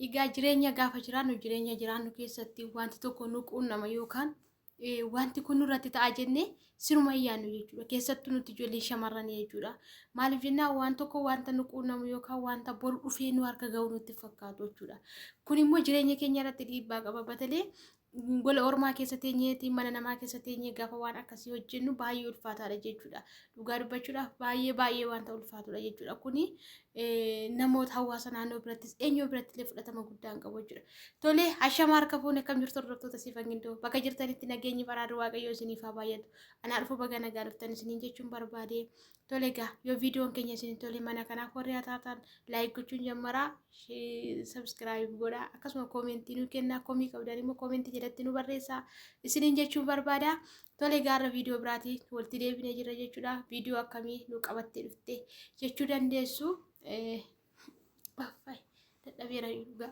Egaa jireenya gaafa jiraannu jireenya jiraannu keessatti wanti tokko nu quunnama yookaan wanti kun nurratti ta'a jennee siruma yaannu jechuudha. Keessattuu nuti ijoollee shamarranii jechuudha. Maaliif jennaan waan tokko wanta nu quunnamu yookaan wanta boru dhufee nu harka ga'u nutti fakkaatu jechuudha. Kun immoo jireenya keenya irratti dhiibbaa qaba. Batalee gola ormaa keessa teenyeeti mana namaa keessa teenyee gaafa waan akkasii hojjennu baay'ee ulfaataadha jechuudha. Dhugaa dubbachuudhaaf baay'ee baay'ee wanta ulfaatudha jechuudha. Kuni namoota hawaasa naannoo birattis eenyoo biratti illee fudhatama guddaa hin qabu jechuudha. Tolee hashama harka fuune akkam jirtu hordoftoota siifan gindoo bakka jirtanitti nageenyi baraarri waaqayyoo isiniif haa baay'atu. Anaa dhufu baga nagaa dhuftan isiniin jechuun barbaade. Tole egaa yoo viidiyoon keenya isin tole mana kanaaf warri haa taatan laayik gochuun jammaraa sabskiraayib godhaa akkasuma koomentii nu kennaa komii qabdan immoo koomentii jalatti nu barreessaa isiniin jechuun barbaada tole egaa irra viidiyoo biraatii walitti deebinee jirra jechuudha viidiyoo akkamii nu qabattee dhufte jechuu dandeessu. Affay, dadhabeera dhugaa.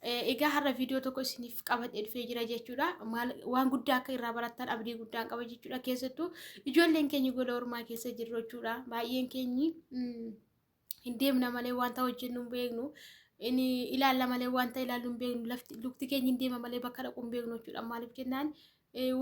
Eh, Egaa har'a viidiyoo tokko isiniif qabadhee dhufee jira jechuudha. Maal waan guddaa akka irraa barattan abdii guddaan qaba jechuudha. Keessattuu ijoolleen keenya gola ormaa keessa jirru jechuudha. Baay'een keenyi mm, hin deemna malee wanta hojjennu hin beeknu. Inni ilaalla malee wanta ilaallu hin beeknu. Lafti lukti keenya hin deema malee bakka dhaqu hin beeknu jechuudha. Maaliif jennaan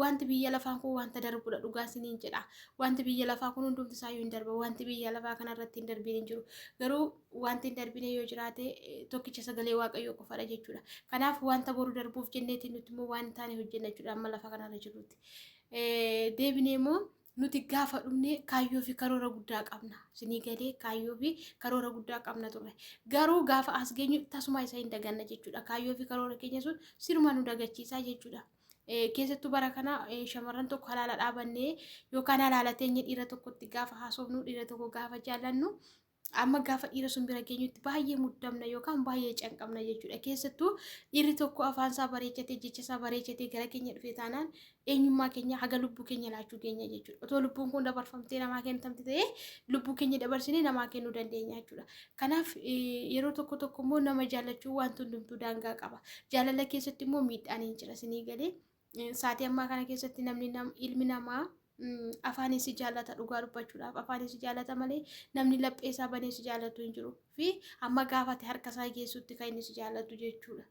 Wanti biyya lafaan kun wanta darbudha dhugaa isiniin jedha. Wanti biyya lafaa kun hundumti isaayyuu hin darba. Wanti biyya lafaa kanarratti hin darbiin hin jiru. Garuu wanti hin darbine yoo jiraate tokkicha sagalee waaqayyoo qofadha jechuudha. Kanaaf wanta boru darbuuf jenneeti nuti immoo waan hin taane hojjenna jechuudha amma lafa kanarra jirrutti. Deebinee immoo nuti gaafa dhumne kaayyoo fi karoora guddaa qabna. Isinii galee kaayyoo fi karoora guddaa qabna turre. Garuu gaafa as geenyu tasuma isa hin daganna jechuudha. Kaayyoo fi karoora keenya sun siruma nu dagachiisa jechuudha. keessattuu bara kana shamarran tokko halaala dhaabannee yookaan halaala teenye dhiira tokkotti gaafa haasofnu dhiira tokko gaafa jaallannu amma gaafa dhiira sun bira geenyutti baay'ee muddamna yookaan baay'ee canqabna jechuudha. Keessattuu dhiirri tokko afaan isaa bareechatee jecha isaa bareechatee gara keenya dhufee taanaan eenyummaa keenya haga lubbuu keenya laachuu keenya jechuudha. Otoo lubbuun kun dabarfamtee namaa kennamte ta'ee lubbuu keenya dabarsinee namaa kennuu dandeenya jechuudha. Kanaaf yeroo tokko tokko immoo nama jaallachuu wanti hundumtuu daangaa qaba. Jaalala keessatti immoo miidhaan hin jira isinii galee. Saatii ammaa kana keessatti namni ilmi namaa afaan isi jaallata dhugaa dubbachuudhaaf afaan isi jaallata malee namni laphee isaa banee si jaallatu hin jiru fi amma gaafate harka isaa geessutti kan inni si jaallatu jechuudha.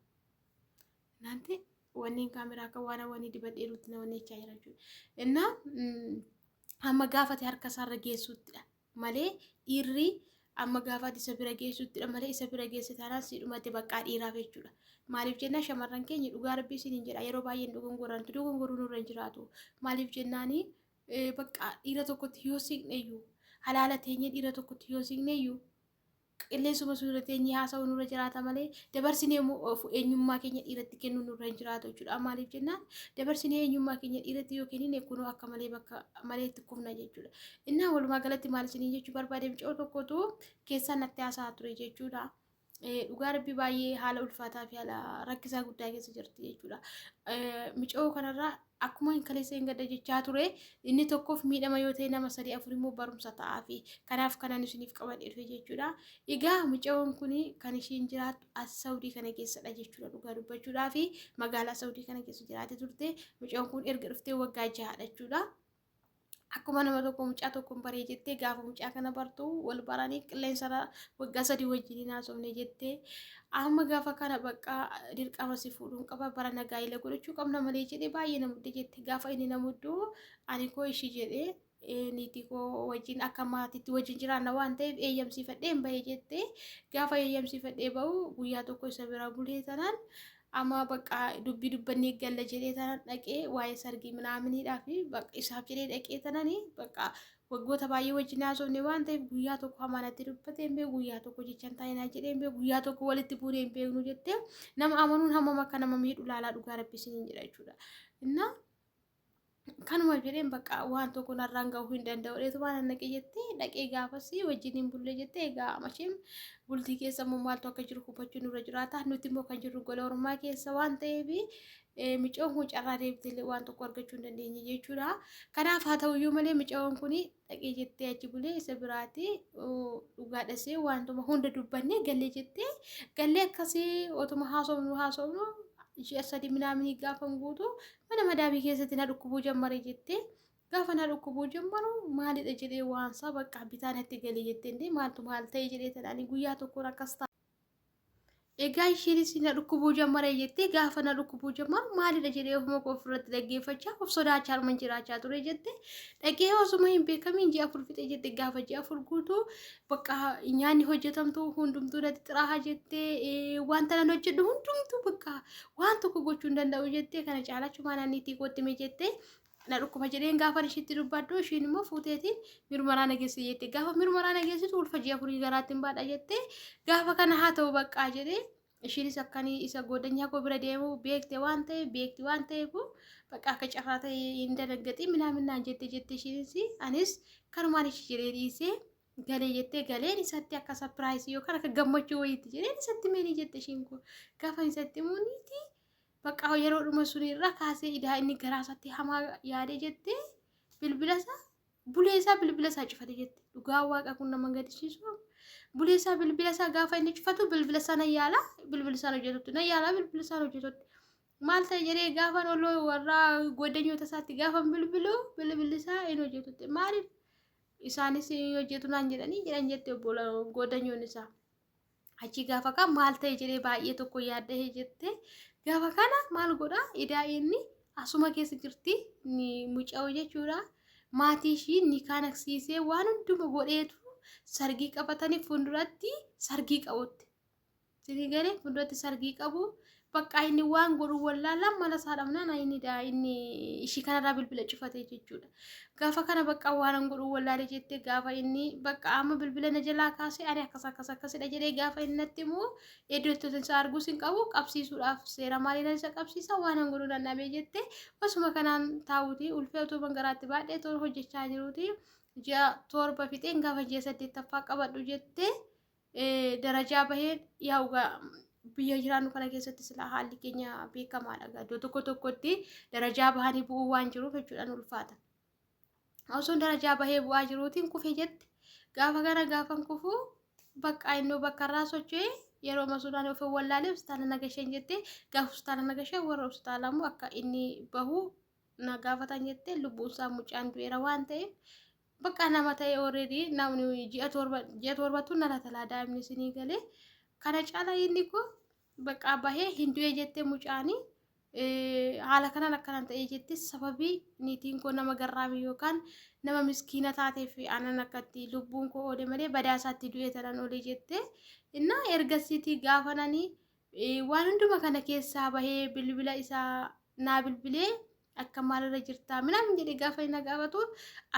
Naanti wanneen kaameraa akka waan wanii dibadheerutti na wanneechaa jira jechuudha. Innaa amma gaafate harka isaarra geessuttidha. malee dhiirri amma gaafaati isa bira geessuttidha malee isa bira geesse taanaan si dhumate baqqaa dhiiraaf jechuudha. Maaliif jennaa shamarran keenya dhugaa rabbii siin hin jedha yeroo baay'een dogongorantu dogongoruu nurra hin jiraatu. Maaliif jennaani baqqaa dhiira tokkotti yoo siqneyyuu halaala teenyee dhiira tokkotti yoo siqneyyuu qilleensuma sun irra teenyee haasa'uu nurra jiraata malee dabarsinee immoo of eenyummaa keenya dhiiratti kennuu nurra hin jiraatu jechuudha. Maaliif jennaan dabarsinee eenyummaa keenya dhiiratti yoo kennine kunoo akka malee bakka malee itti kufna jechuudha. Innaa walumaa galatti maal isiniin jechuu barbaade mucoo tokkotu keessaa natti haasa'aa ture jechuudha. Eh, Dhugaa rabbi baay'ee haala ulfaataa fi haala rakkisaa guddaa keessa jirti jechuudha. Eh, Mucoo kanarraa Akkuma hin kaleessa hin gadda jechaa ture inni tokkoof miidhama yoo ta'e nama sadii afur immoo barumsa ta'aafi. Kanaaf kanan isiniif qabadhe dhufe jechuudha. Egaa mucayoon kun kan ishiin jiraattu as Saawudii kana keessadha jechuudha dhugaa dubbachuudhaa fi magaalaa Saawudii kana keessa jiraate turte. Mucayoon kun erga dhuftee waggaa jahadha jechuudha. akkuma nama tokko mucaa tokkoon baree jettee gaafa mucaa kana bartu wal baranii qilleensarra waggaa sadii wajjiniin haasofne jettee amma gaafa kana baqqaa dirqama si fuudhuun qaba bara nagaa ila godhachuu qabna malee jedhee baay'ee na mudde jette gaafa inni na muddu ani koo ishii jedhee eh, niitii koo wajjin akka maatiitti wajjin jiraanna waan ta'eef eeyyamsiifadheen bahee jette gaafa eeyyamsiifadhee bahu guyyaa tokko isa bira bulee tanaan Amaa baqaa dubbii dubbannee galla jedhee tanan dhaqee waa'ee sargii minaaminiidhaa fi isaaf jedhee dhaqee tanani baqaa waggoota baay'ee wajjin haasofne waan ta'eef guyyaa tokko hamaa natti dubbate hin beeku guyyaa tokko jecha hin taane naan jedhee hin beeku guyyaa tokko walitti buunee hin beeknu jettee nama amanuun hammam akka nama miidhu laalaa dhugaa rabbi isiniin jedha jechuudha. Innaa kanuma jedheen bakka waan tokko narraan ga'uu hin danda'u dheetumaan annaqee jettee dhaqee gaafasii wajjin hin bullee jettee egaa masheen bultii keessa immoo maaltu akka jiru hubachuu nurra jiraata nuti immoo kan jirru gola ormaa keessa waan ta'eef micoon kun carraa deebitee waan tokko argachuu hin dandeenye jechuudha kanaaf haa ta'uyyuu malee micoon kun dhaqee jettee achi bulee isa biraati dhugaa dhasee waantuma hunda dubbannee gallee jettee gallee akkasii otuma haasofnu haasofnu ji'a sadii minaaminii gaafan guutu mana madaamii keessatti na dhukkubuu jammare jettee gaafa na dhukkubuu jammaru maalidha jedhee waansaa bakka bitaa natti galee jettee illee maaltu maal ta'e jedhee tanaanii guyyaa tokkoon akkas ta'a. Egaa isheenis na dhukkubuu jammaree jettee gaafa na dhukkubuu jammaru maalidha jedhee ofuma koo ofirratti dhaggeeffachaa of sodaachaa harman jiraachaa ture jette dhagee osuma hin beekamiin ji'a afur fixee jette gaafa ji'a afur guutuu bakka nyaanni hojjetamtu hundumtuu natti xiraaha jette wanta nan hojjedhu hundumtuu bakka waan tokko gochuu hin danda'u jette kana caalachumaa naanniitii kootti mee jette na dhukkuba jedheen gaafan ishiitti dubbadhu ishiin immoo fuuteetiin mirmaraa na geessite jette gaafa mirmaraa na geessitu ulfa ji'a afurii garaatti hin baadha jette gaafa kana haa ta'u baqqaa jedhe ishiinis akkanii isa goodanyaa koo bira deemu beekte waan ta'e beekti waan ta'eef bakka akka carraa ta'e hin danaggaxii minaaminaan jette jette ishiinis anis kanumaan ishii jedhee dhiisee galee jettee galeen isatti akka sapiraayisii yookaan akka gammachuu wayiitti jedheen isatti meenii jette ishiin koo gaafa isatti muuniitii Baqqaa yeroo dhuma sun irraa kaasee idaa inni garaa isaatti hamaa yaadee jettee bilbila isaa bulee isaa bilbila isaa cufate jette. Dhugaa waaqa kun nama gadisiisu. Bulee isaa bilbila isaa gaafa inni cufatu bilbila isaa na yaala bilbila isaa hojjetutti na yaala bilbila isaa hojjetutti. Maal ta'e jedhee gaafan olloo warraa goddanyoota isaatti gaafan bilbilu bilbilli isaa hin hojjetutti. Maaliif isaanis hin hojjetu naan jedhanii jedhan jette obbola goddanyoon isaa. Achii gaafa kaan maal ta'e jedhee baay'ee tokko yaaddahee jette. Gaafa kana maal godha idaa inni asuma keessa jirti muca'oo jechuudha. Maatii ishii ni kaanaksiisee waan hunduma godheetu sargii qabatanii fuulduratti sargii qabutti. Sini galee fuulduratti sargii qabu Baqqaa inni waan godhu wallaalaan mana isaa dhabnaan ayinidha inni ishii kanarraa bilbila cufate jechuudha. Gaafa kana baqqaa waanan godhu wallaalee jettee gaafa inni baqqaa amma bilbila na jalaa kaasee ani akkas akkas akkasidha jedhee gaafa inni natti immoo iddoo itti isa arguus hin qabu qabsiisuudhaaf seera maaliidhaan isa qabsiisa waanan godhu nan dhabee jettee osuma kanaan taa'uuti ulfee utuu bangaraatti baadhee toon hojjechaa jiruuti ji'a torba fixeen gaafa ji'a saddeettaffaa qabadhu jettee darajaa baheen yaa ugaa biyya jiraannu kana keessatti silaa haalli keenya beekamaadha. Iddoo tokko tokkotti darajaa bahanii bu'uu waan jiruuf jechuudhaan ulfaata. Osoon darajaa bahee bu'aa jiruutiin kufe jette gaafa kana gaafan kufu bakka innoo bakka irraa socho'ee yeroo masuudhaan of wallaalee hospitaala nagasheen jette gaafa hospitaala nagashee warra hospitaala immoo akka inni bahu na gaafatan jette lubbuunsaa mucaan du'eera waan ta'eef Bakka nama ta'e already namni ji'a torba ji'a torbatu na latalaa daa'imni isinii galee kana caala inni koo bakka bahee hin du'e jettee mucaanii haala kanaan akkanan ta'ee jetti sababii niitiin koo nama garraamii yookaan nama miskiina taatee fi aanan akkatti lubbuun koo oole malee badaa isaatti du'e tanan oole jettee innaa ergasiitii gaafananii waan hunduma kana keessaa bahee bilbila isaa naa bilbilee akka maalirra jirtaa minaamin jedhee gaafa inni gaafatu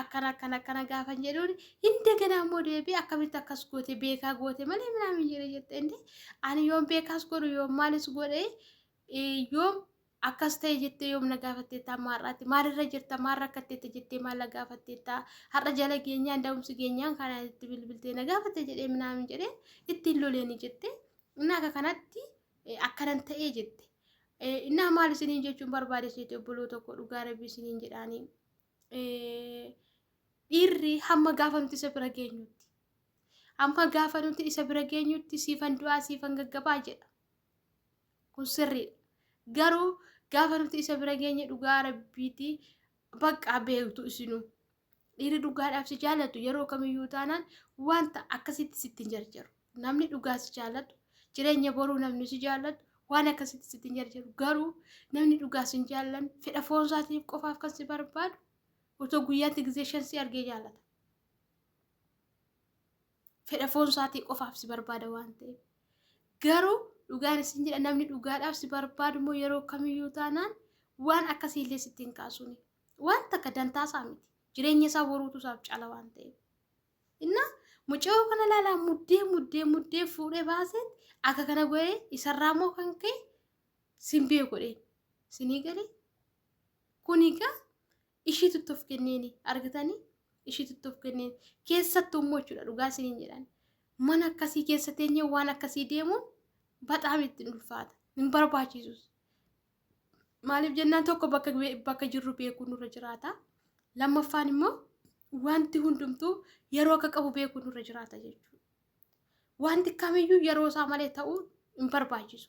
akkana akkana akkana gaafa hin jedhuun hin daganaa immoo deebii akkamitti akkas goote beekaa goote malee minaamin jedhee jette inni ani yoom beekaas godhu yoom maalis godhe yoom akkas ta'e jettee yoom na gaafatteettaa maarraatti maalirra jirta maal rakkatteetta jettee maal na gaafatteettaa har'a jala geenyaan da'umsi geenyaan kanaan itti bilbiltee na gaafatte jedhee minaamin jedhee ittiin loleeni jettee Innaa akka kanatti eh, akkanan ta'ee jette. Eh, Innaa maal isiniin jechuun barbaade seete obboloo tokko dhugaa rabbii isiniin jedhaanii. Eh, Dhiirri hamma gaafa nuti isa bira geenyutti. Hamma gaafa nuti isa bira geenyutti siifan du'aa siifan gaggabaa jedha. Kun sirriidha. Garuu gaafa nuti isa bira geenye dhugaa rabbiitii bakka beektu isinuu. Dhiirri dhugaadhaaf si jaalatu yeroo kamiyyuu taanaan wanta akkasitti sitti hin jarjaru. Namni dhugaa si jaalatu, jireenya boruu namni si jaalatu waan akkasitti sitti hin jarjaru. Garuu namni dhugaa si hin jaallanne fedha foon isaatiif qofaaf kan si barbaadu otoo guyyaatti gizee shan si argee jaalata. Fedha foon isaatii qofaaf si barbaada waan ta'eef. Garuu dhugaan isin jedha namni dhugaadhaaf si barbaadu immoo yeroo kamiyyuu taanaan waan akkasiillee sitti hin kaasuni. Waan takka dantaa isaa miti. Jireenya isaa boruutu isaaf cala waan ta'eef. Inna mucayoo kana ilaalaa muddee muddee muddee fuudhee baaseet akka kana godhee isarraa immoo kan ka'e simbee godhee sinii galee kun egaa ishii tuttuuf kenneeni argitanii ishii tuttuuf kenneeni keessattuu immoo jechuudha dhugaa isiniin jedhan mana akkasii keessa teenyee waan akkasii deemuun baxaam ittiin ulfaata hin barbaachisus Maaliif jennaan tokko bakka bakka jirru beekuu nurra jiraata. Lammaffaan immoo wanti hundumtuu yeroo akka qabu beekuu nurra jiraata jechuudha. Wanti kamiyyuu yeroo isaa malee ta'uu hin barbaachisu.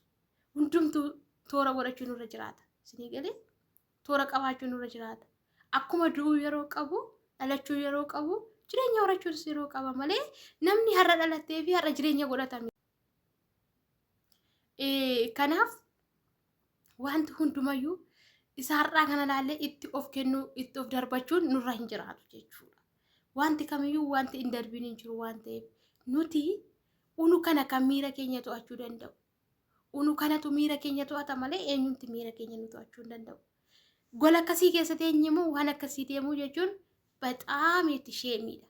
Hundumtuu toora godhachuu nurra jiraata. Isinii galee toora qabaachuu nurra jiraata. Akkuma du'uu yeroo qabu, dhalachuu yeroo qabu, jireenya horachuunis yeroo qaba malee namni har'a dhalatee fi har'a jireenya godhatame. Kanaaf wanti hundumayyuu isa har'aa kana ilaallee itti of kennuu itti of darbachuun nurra hin jiraatu jechuudha. Wanti kamiyyuu wanti hin darbiin hin jiru waan ta'eef nuti unu kana kan miira keenya to'achuu danda'u. Unu kanatu miira keenya to'ata malee eenyumti miira keenya nu to'achuu hin danda'u. Gola akkasii keessa teenye immoo waan akkasii deemuu jechuun baxaam itti sheemiidha.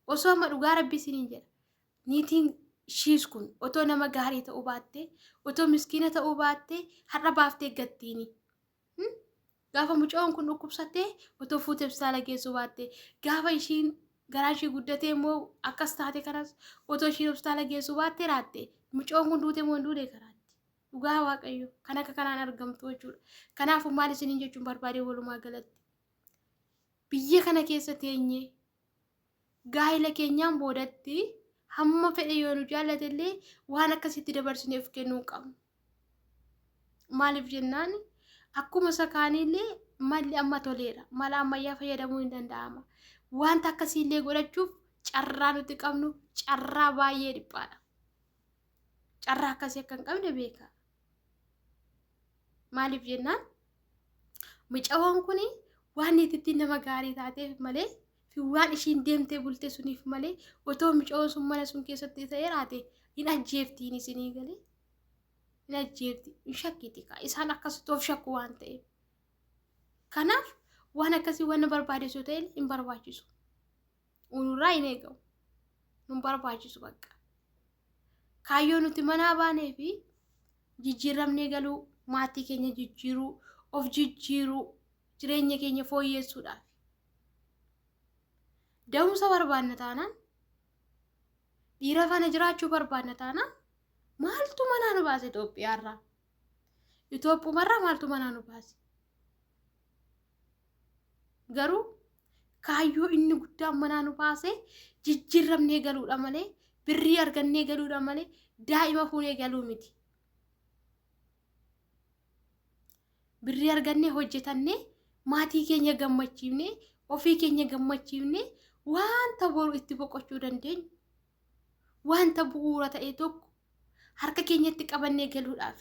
Osoo amma dhugaa rabbii isiniin jedha. Niitiin shiis kun otoo nama gaarii ta'uu baattee, otoo miskiina ta'uu baattee har'a baaftee gattiini. Hmm? Gaafa mucoon kun dhukkubsattee otoo fuutee hospitaala geessuu baattee, gaafa ishiin garaan ishii guddatee immoo akkas taate kanas otoo ishiin hospitaala geessuu baattee raatte. Mucoon kun duute moo hin duune karaatti. Dhugaa waaqayyo kan akka kanaan argamtu jechuudha. Kanaafuu maal isiniin jechuun barbaadee walumaa galatti. Biyya kana keessa teenyee gaa'ila keenyaan boodatti hamma fedhe yoo nu jaallate illee waan akkasitti dabarsinee of kennuu hin qabnu. Maaliif jennaan akkuma isa kaanii illee malli amma toleera. Mala ammayyaa fayyadamuu hin danda'ama. Wanta akkasii illee godhachuuf carraa nuti qabnu carraa baay'ee dhiphaadha. Carraa akkasii akka hin qabne beeka. Maaliif jennaan mucawwan kun waan niitittiin nama gaarii taateef malee Waan ishiin deemtee bultee suniif malee otoo micoon sun mana sun keessatti ta'ee raate hin ajjeeftiin isinii galee hin ajjeefti hin shakkiti kaa isaan akkasitti of shakku waan ta'eef. Kanaaf waan akkasii waan barbaadeessu ta'e hin barbaachisu. Unurraa hin eegamu. Nun barbaachisu bakka. Kaayyoo nuti manaa baanee fi jijjiiramnee galuu maatii keenya jijjiiruu of jijjiiruu jireenya keenya fooyyeessuudhaaf. Da'umsa barbaanna taanaan dhiira faana jiraachuu barbaanna taanaan maaltu manaa nu baase Itoophiyaarraa? Itoophumarraa maaltu manaa nu baase? Garuu kaayyoo inni guddaan manaa nu baase jijjiirramnee galuudha malee birrii argannee galuudha malee daa'ima fuunee galuu miti. Birrii argannee hojjetannee maatii keenya gammachiifnee ofii keenya gammachiifnee wanta boru itti boqochuu dandeenyu wanta bu'uura ta'e tokko harka keenyatti qabannee galuudhaaf.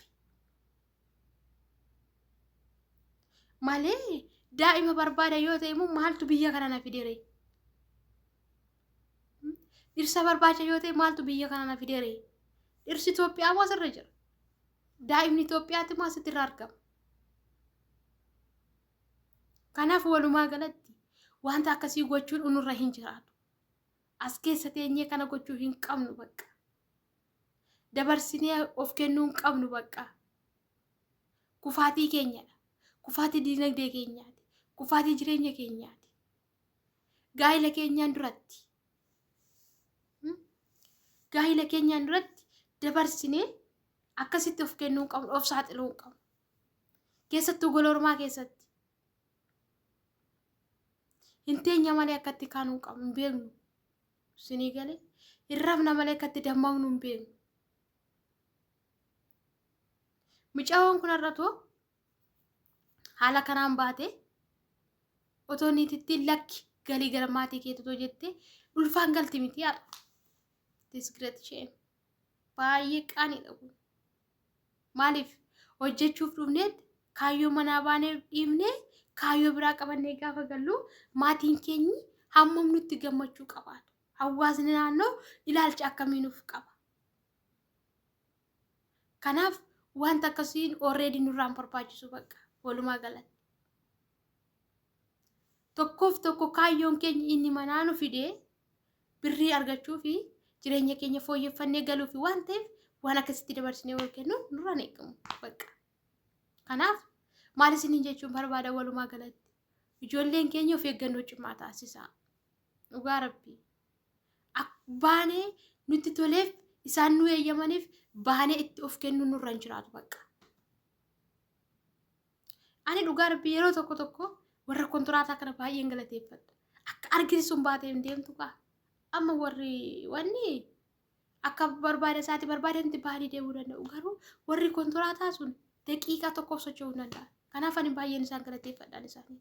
Malee daa'ima barbaada yoo ta'e immoo maaltu biyya kana na fidere? Dhirsa barbaacha yoo ta'e maaltu biyya kana na fidere? Dhirsi Itoophiyaa moo asirra jira? daa'imni Itoophiyaatti immoo asitti irra argama. Kanaaf walumaa galatti wanta akkasii gochuun unurra hin jiraatu. As keessa teenyee kana gochuu hin qabnu bakka. Dabarsinee of kennuu hin qabnu bakka. Kufaatii keenyadha. Kufaatii dinagdee keenyaati. Kufaatii jireenya keenyaati. Gaa'ila keenyaan duratti gaa'ila keenyaan duratti dabarsinee akkasitti of kennuu hin qabnu of saaxiluu hin qabnu keessattuu gola ormaa keessatti hin teenya malee akkatti kaanuu hin qabnu hin beeknu sinii galee hin rafna malee akkatti dammaqnu hin beeknu mucaawwan kun har'atu haala kanaan baate otoo niitittiin lakki galii gara maatii keetu otoo jettee ulfaan galti miti har'a. This great shame. Baay'ee qaaniidha kun. Maaliif hojjechuuf dhufneetti kaayyoo manaa baanee dhiifnee kaayyoo biraa qabannee gaafa gallu maatiin keenyi hammam nutti gammachuu qabaatu. Hawaasni naannoo ilaalcha akkamii nuuf qaba. Kanaaf wanta akkasiin already nurraan barbaachisu bakka walumaa galatti. Tokkoof tokko kaayyoon keenya inni manaa nu fidee birrii argachuu fi jireenya keenya fooyyeffannee galuu fi waan ta'eef waan akkasitti dabarsinee wal kennu nurraan eegamu bakka. Kanaaf maal isiniin jechuun barbaada walumaa galatti ijoolleen keenya of eeggannoo cimaa taasisaa. Dhugaa rabbii. Ak- Baanee nutti toleef isaan nu eeyyamaniif baanee itti of kennuun nurra hin jiraatu bakka. Ani dhugaa rabbii yeroo tokko tokko warra kontiraataa kana baay'een galateeffadha. Akka argiti sun baatee hin deemtu kaa. Amma warri wanni akka barbaada isaati barbaadanitti baanii deemuu danda'u. Garuu warri kontiraataa sun daqiiqaa tokkoof socho'uu hin danda'an. Kanaaf ani baay'een isaan galateeffadhaan isaanii.